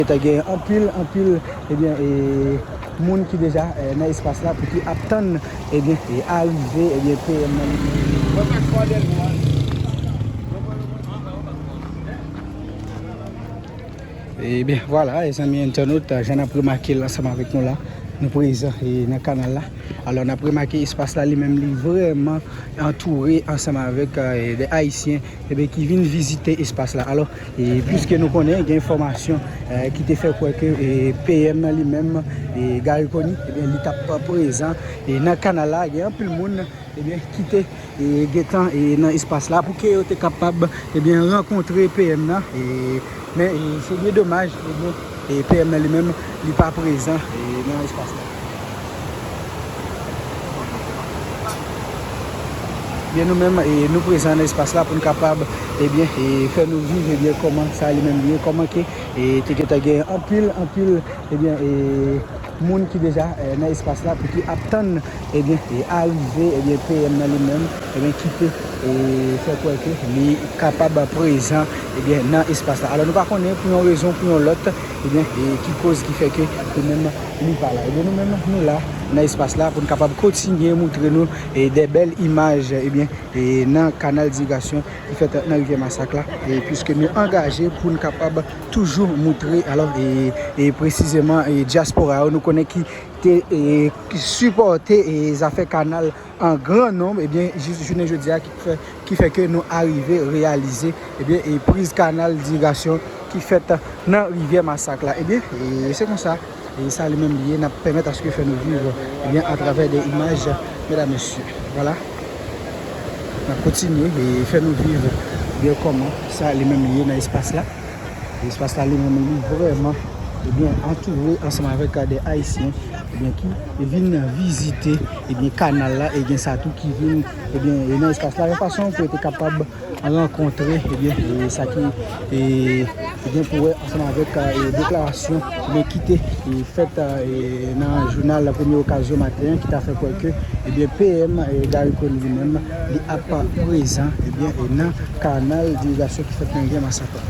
Gentan gen anpil anpil ebyen e moun ki deja nan espas la pou ki ap tann ebyen e arive ebyen PM nan. Mwen pa kwè de nou an. Ebyen vwala e zanmi entènot jan nap remake l ansanm avèk nou la nou prezan e nan kanal la alò nap remake espas la li menm li vrèman antoure ansanm avèk de ayisyen. Eben ki vin vizite espas la. Alò, puiske nou konnen gen enfòmasyon ki te fè kwè ke PM nan li menm, Garry Conille, eben li tap prezan nan kanal la, gen anpil moun eben ki te gentan nan espas la pou ke yo te kapab eben rankontre PM nan. Men se byen domaj e bon e PM nan li menm li pa prezan nan espas la. Byen nou menm e nou prezan nan espas la pou n kapab e byen e fè nou viv e byen kòman sa li menm li ye kòman ke e te gentan gen anpil anpil e byen e. Moun ki deja nan espas la pou ki ap tann ebyen arive ebyen PM nan li menm ebyen kite fè kwè ke li kapab prezan ebyen nan espas la alò nou pa konnen pou yon rezon pou yon lòt ebyen ki koz ki fè ke li menm li pa la ebyen nou menm nou la nan espas la pou nou kapab kontinye moutre nou de bèl imaj ebyen nan kanal dirigasyon ki fèt nan rivyè masak la e pwiske nou angaje pou nou kapab. toujou moutre alò e presizeman dyaspora yo nou konnen ki te sipòte e zafè kanal an gran nonm ebyen jis jounen jodi a ki fè ke nou arive reyalize ebyen e priz kanal dirigasyon ki fèt nan rivyè masak la ebyen se konsa. E sa li menm li ye nap pèmèt aske fè nou viv ebyen atravè de imaj medam mesye vwala nap kontinye e fè nou viv ebyen kòman sa li menm li ye nan espas la e espas la li menm li vrèman ebyen antoure ansanm avèk de ayisyen ebyen ki vin nan vizite ebyen kanal la e gen sa tou ki vin ebyen nan espas la yon fason pou yo te kapab. rankontre ebyen sa ki gen pou wè ansanm avèk deklarasyon ebyen ki te fèt nan jounal la premye okazyon maten ki ta fè kwè ke ebyen PM Garry Conille li menm li ap prezan ebyen nan kanal dirigasyon ki fèt nan rivyè masak la.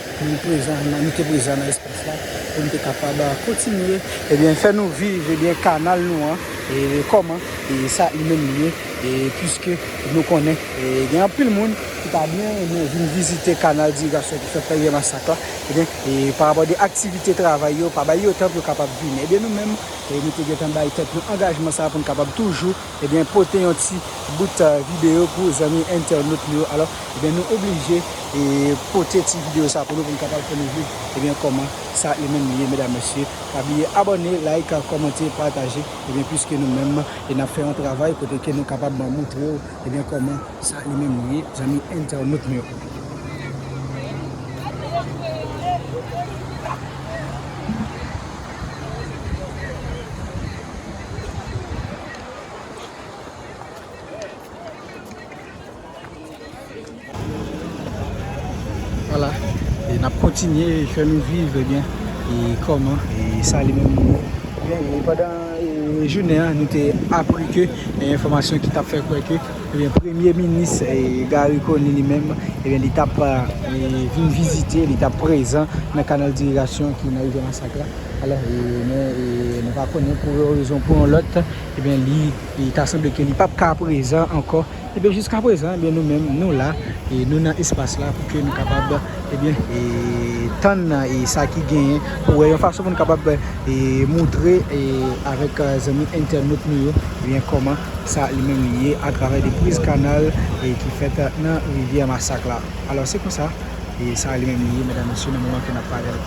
Pou nou prezan, nou te prezan nan espas la, pou nou te kapab kontinye, ebyen, fè nou viv, ebyen, kanal nou an, e kòman, e sa li menm li ye, e piske nou konnen, e gen anpil moun ki ta byen renmen vin vizite kanal dirigasyon ki fè Prèvyen Masak la, ebyen, e pa rapò de aktivite travay yo, pa bay yo tan pou yo kapab vini. Ebyen, nou menm, nou te gen tan bay tèt nou angajman sa a pou nou kapab toujou. Ebyen pote yon ti bout video pou zanmi entènot nou yo alò ebyen nou oblije pote ti video sa pou nou pou nou kapab fè nou viv ebyen kòman sa li menm li ye medam mesye pa bliye abòne like kòmante pataje ebyen pwiske nou menm e nap fè yon travay kote ke nou kapab moutrew ebyen kòman sa li menm li ye zanmi entènot nou yo. Wala, e nap kontinye fè nou viv e byen e kòman e sa li menm nou. Byen, e pandan e jounen an nou te apri ke e enfòmasyon ki tap fè kwè ke e byen premye minis e Garry Conille li menm e byen li tap e vin vizite, li tap prezan nan kanal dirigasyon ki nan rivyè Masak la. Alò, men nou pa konnen pou yon rezon pou yon lòt, ebyen li ta sanble ke li pap ka prezan ankò. Ebyen jiska prezan, ebyen nou menm nou la, nou nan espas la pou ke nou kapab ebyen tann sa ki genyen pou wè yon fason pou nou kapab moutre avèk zanmi entènot nou yo ebyen kòman sa li menm li ye atravè de priz kanal ki fèt nan rivyè masak la. Alò se konsa. E sa li menm li ye medam mesye nan moman ke nap pale la.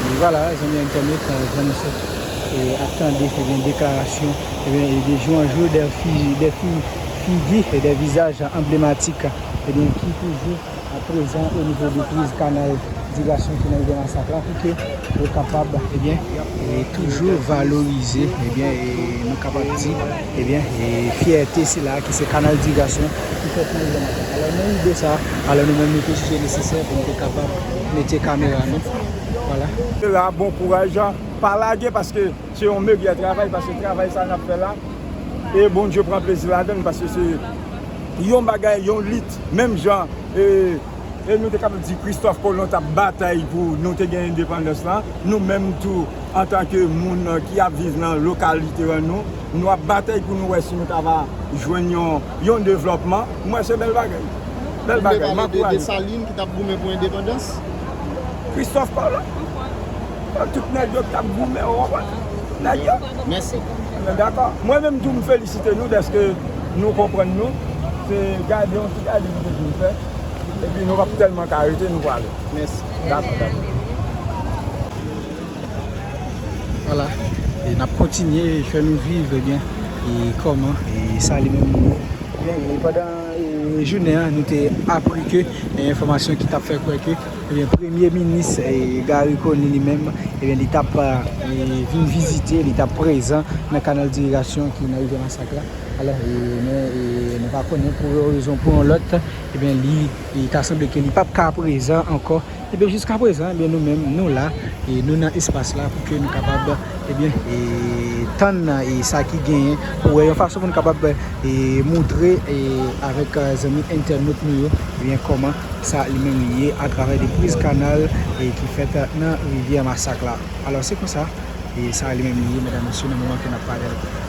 E vwala zanmi entènet frè m sè e ap tande e byen deklarasyon e byen e de jou an jou de fi de fi figi e de vizaj anblematik e byen ki toujou a prezan o nivo de priz kanal dirasyon ki nan rivyè Masak la pou ke yo kapab ebyen toujou valorize ebyen nou kapab di ebyen fyète sila ki se kanal dirasyon ki fèt nan rivyè Masak alò nan ide sa alò nou menm nou te jije nesesè pou nou te kapab mete kamera nou wala. Sera bon kouraj pa lage paske se yon megyè travay paske travay sa nap fè la e Bondye pran plezi ladann paske se yon bagay yon lit. Menm jan e nou te kapab di Kristòf Kolon t ap batay pou nou te gen endepandans lan, nou menm tou antanke moun ki ap viv nan lokalite an nou, nou ap batay pou nou wè si nou ta va jwenn yon devlòpman. M wè se bèl bagay. Bèl bagay. M ankouraje sa. Ou vle pale de Desalin ki t ap goumen pou endepandans? Kristòf Kolon. Tout nèg yo ki t ap goumen, ou konprann? Nèg yo. Mèsi. Mwen dakò. Mwen menm tou m felisite nou dèske nou konprann nou. Se gade yon ti gade nou te fin fè. Epi nou pap tèlman ka rete nou prale. Mèsi. Dakò, dakò. Vwala. E n ap kontinye fè nou viv ebyen e kòman e sa li menm li. Byen e pandan jounen an nou te apri ke enfòmasyon ki t ap fè kwè ke. Ebyen premye minis Garry Conille li menm ebyen li tap vin vizite li tap prezan nan kanal dirigasyon ki nan rivyè masak la alò men nou pa konnen pou yon rezon pou yon lòt ebyen li ta sanble ke li pap ka prezan ankò ebyen jiska prezan ebyen nou menm nou la nou nan espas la pou ke nou kapab ebyen tann sa ki genyen pou wè yon fason pou nou kapab E moutre avèk zanmi entènot nou yo ebyen kòman sa li menm li ye atravè de priz kanal ki fèt nan rivyè masak la. Alò se konsa sa li menm li ye medam mesye nan moman ke nap pale la.